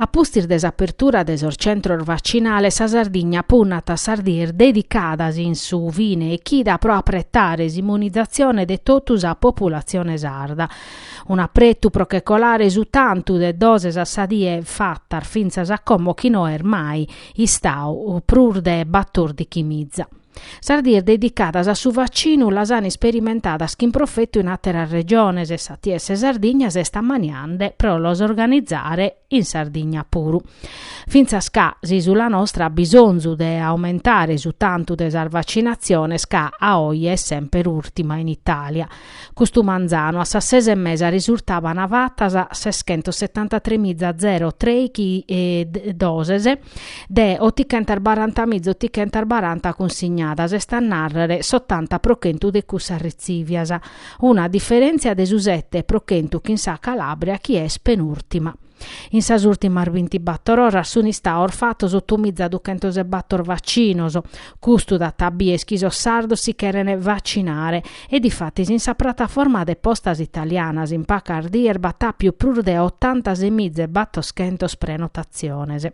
A pustis de s'apertura de sos centros vacinales sa Sardigna punnat a sas dies dedicadas in su fine 'e chida pro apretare s'immunizatzione de totu sa populatzione sarda. Un'apretu pro che colare su tantu de doses a sa die fatas fintzas a como chi no est mai istau prus de batòrdighi miza. Sas dies dedicadas a su vaccinu las an isperimentadas chin profetu in àteras regiones e s'ATS Sardigna s'est ammaniende pro los organizare in Sardigna puru. Fintzas ca s'ìsula nostra at bisonzu de aumentare su tantu de sas vaccinatziones ca a oje est semper ùrtima in Itàlia, Custu manzanu a sas ses e mesa risurtaban fatas seschentos setantatremiza zero trèichi doses de otichentas baranta miza otichentas baranta cunsignadas, est a nàrrere s'otanta pro chentu de cussas retzìvias, una diferèntzia de su sete pro chentu chin sa Calàbria chi est penùrtima. In sas ùrtimas bintibator oras sun istaos fatos otomiza duchentos e bator vacinos. Custu dat a bier chi sos sardos si cheren vacinare e difatis in sa prataforma de postas italianas in pacas dies b'at àpiu prus de otantasemiza e batoschentos prenotatziones.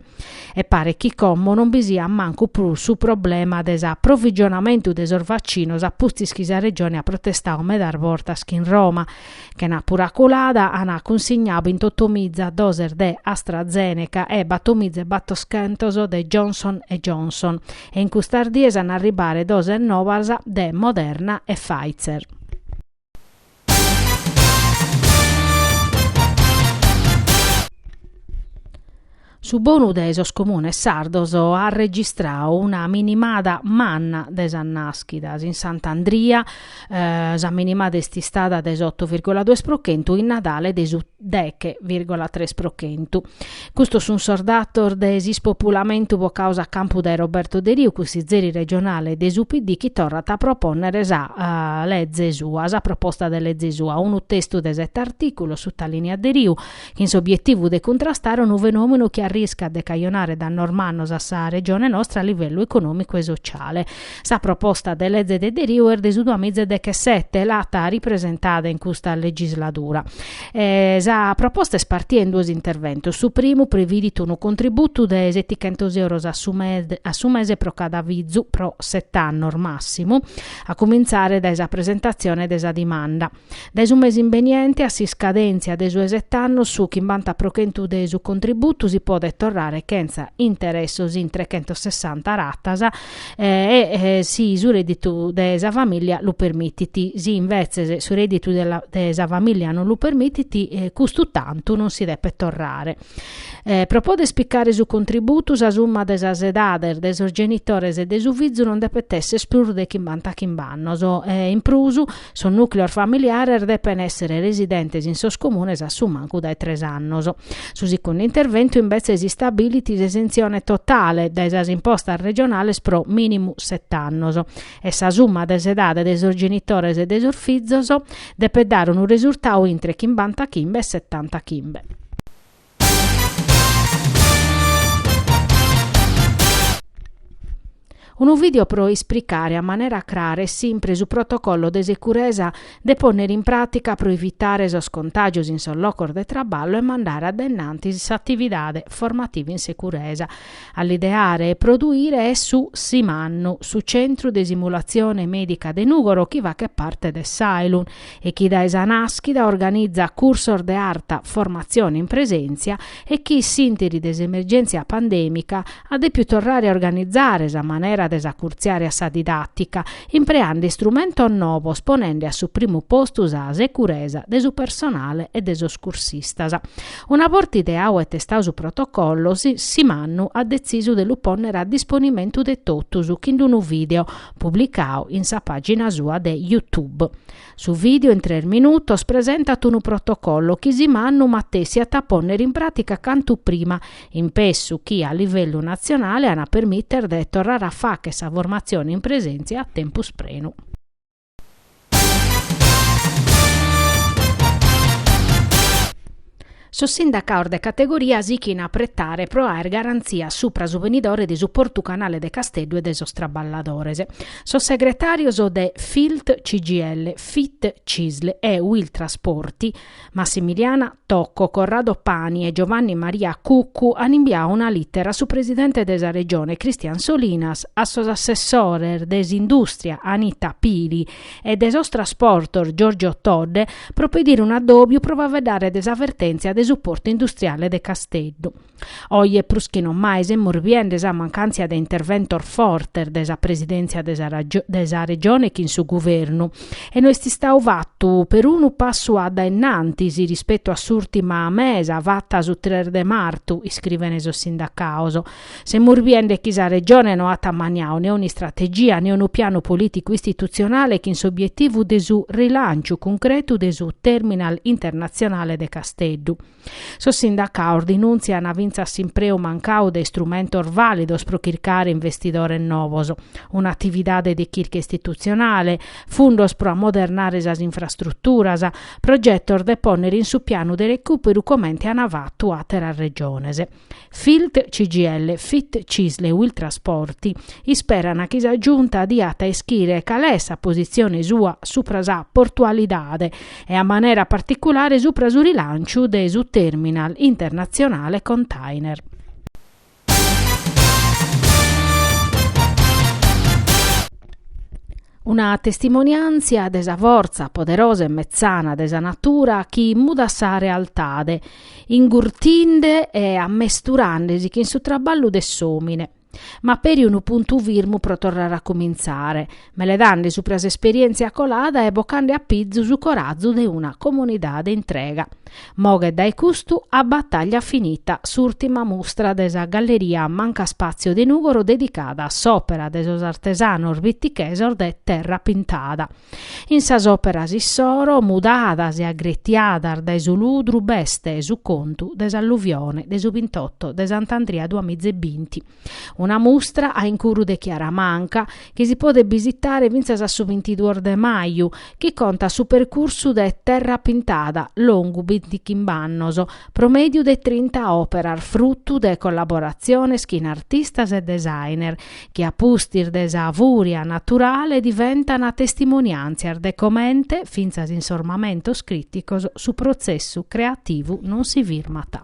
e paret chi como non bi siat mancu prus su problema de s'aprovigionamentu de sos vacinos a pustis chi sa Regione at protestau medas bortas chin Roma, chenàpura colada an cunsignau bintotomiza doses de AstraZeneca e battomiza e battoschentos de Johnson e Johnson e in custas dies an arribare doses nobas de Moderna e Pfizer. Su bonu de sos comunes sardos at registradu una minimada manna de sas nàschidas. In Sant'Andria sa minimada est istada de s'oto virgola duos pro chentu in Nadale de su deghe virgola tres pro chentu. Custos sun sos datos de s'ispopulamentu bocaos a campu dae Roberto Deriu, cussizeri regionale de su PD chi torrat a propònnere sa leze sua, sa proposta de leze sua, unu testu de sete artìculos, sutalìniat Deriu, chin s'obietivu de cuntrastare unu fenòmenu chi arriscat de cajonare dannos mannos a sa Regione nostra a livellu econòmicu e sotziale. Sa proposta de leze de Deriu est de su duamiza e dechesete, l'at ripresentada in custa legisladura. E sa proposta est partia in duos interventos. Su primu previdit unu contributu de setichentos euros a su a su mese pro cada fizu pro set'annos massimu, a cumintzare dae sa presentatzione de sa dimanda. Dae su mesi imbeniente a s'iscadèntzia de su 'e set'annos su chimbanta pro chentu de su contributu si podet torrare chentza interessos in trechentossessanta ratas e, si su rèdditu de sa famìllia lu permitit. Si imbetzes su rèdditu de sa famìllia non lu permitit, custu tantu non si depet torrare. Pro poder picare su contributu sa summa de sas edades de sos genitores e de su fizu non depet èssere prus de chimbanta chimb'annos. In prus, Sos nùcleos familiares depen èssere residentes in sos comunes a su mancu dae tres annos. Su sicundu interventu imbetzes istabilit s'esentzione totale dae sas impostas regionales pro mìnimu set'annos e sa summa de s'edade de sos genitores e de sos fizos depet dare unu resurtau intre chimbanta chimbe e setanta chimbe. Unu video pro esplicare a manera crara e simpre su protocollo de securesa de pònnere in pràtica pro evitare sos contàgios in sos locos de traballu e mandare a denanti s'atividade formativa in securesa. A l'ideare e produire est su Simannu, su Centru de Simulatzione Mèdica de Nùgoro chi fachet parte de s'Ailun e chi dae sa nàschida organizat cursos de arta formatzione in presèntzia e chi, s'ìnteri de s'emergèntzia pandèmica, at dèpiu torrare a organizare sa manera de s'acurtziare a sa didàtica, impreande istrumentos novos ponende a su primu postu sa securesa de su personale e de sos cursistas. Una borta ideau e testau su protocollo, Simannu at detzisu de lu pònnere a disponimentu de totus chin d'unu vìdeo, publicau in sa pàgina sua de YouTube. Su vìdeo in tres minutos presentat unu protocollo chi Simannu matessi at a pònnere in pràtica cantu prima, impessu chi a livellu natzionale an a permìtere de torrare a fàchere sa formatzione in presèntzia a tempus prenu. Sos sindacaos de categoria sichin a pretare pro aer garantzias supra su benidore de su Portu Canale de Casteddu e de sos traballadores. Sos segretarios de Filt-CGIL, Fit-Cisl e Uiltrasporti, Massimiliana Tocco, Corrado Pani e Giovanni Maria Cuccu an imbiau una lìtera a su presidente de sa Regione Christian Solinas, a sos assessores de s'Indùstria Anita Pili e de sos Trasportos Giorgio Todde pro pedire un'addòbiu pro faveddare de sa vertèntzia de su Portu Industriale de Casteddu. Oje prus chi non mai semus biende sa mancàntzia de interventos fortes de sa presidèntzia de sa Regione chin su Guvernu e no est istadu fatu perunu passu a dae innantis rispetu a s'ùrtima mesa fata su tres de martu, iscrivene sos sindacados. Semus biende chi sa Regione no at ammaniadu ne un'istrategia ne unu pianu polìticu istitutzionale chin s'obietivu de su rilànciu cuncretu de su Terminal internatzionale de Casteddu. Sos sindacados dinùntziant fintzas s'impreu mancadu de istrumentos vàlidos pro chircare investidores novos, un'atividade de chirca istitutzionale, fundos pro ammodernare sas infrastruturas, progetos de pònnere in su pianu de recùperu comente ant fatu àteras Regiones. Filt CGIL, Fit Cisl e Uiltrasporti isperana chi sa Giunta diat a ischire cale est sa posizione sua supra sa portualidade e a manera particulare supra su rilanciu de su terminal internatzionale container. Una testimoniàntzia de sa fortza poderosa e metzana de sa natura chi mudat sa realtade, ingurtinde e ammesturande·si chin su traballu de s'òmine, ma peri unu puntu firmu pro torrare a cumintzare, meledande supra s'esperièntzia colada e bocande a pizu su corazu de una comunidade intrega. Moghet dae custu A battaglia finita s'ùrtima mustra de sa galleria Mancaspazio de Nùgoro dedicada a s'òpera de sos artesanos bitichesos de terra pintada. In sas òperas issoro, mudadas e agretiadas dae su ludru, b'est su contu de s'alluvione de su bintotto de Sant'Andria duamiza e binti, Una mustra a incuru de Chiara Manca chi si podet bisitare fintzas a su bintiduos de maju, chi contat su percursu de Terra Pintada, longu bintichimb'annos, pro mèdiu de trinta òperas frutu de collaboratziones chin artistas e designer, chi a pustis de sa fùria naturale diventan testimoniàntzias de comente, fintzas in sos mamentos crìticos, su protzessu creativu non si firmat.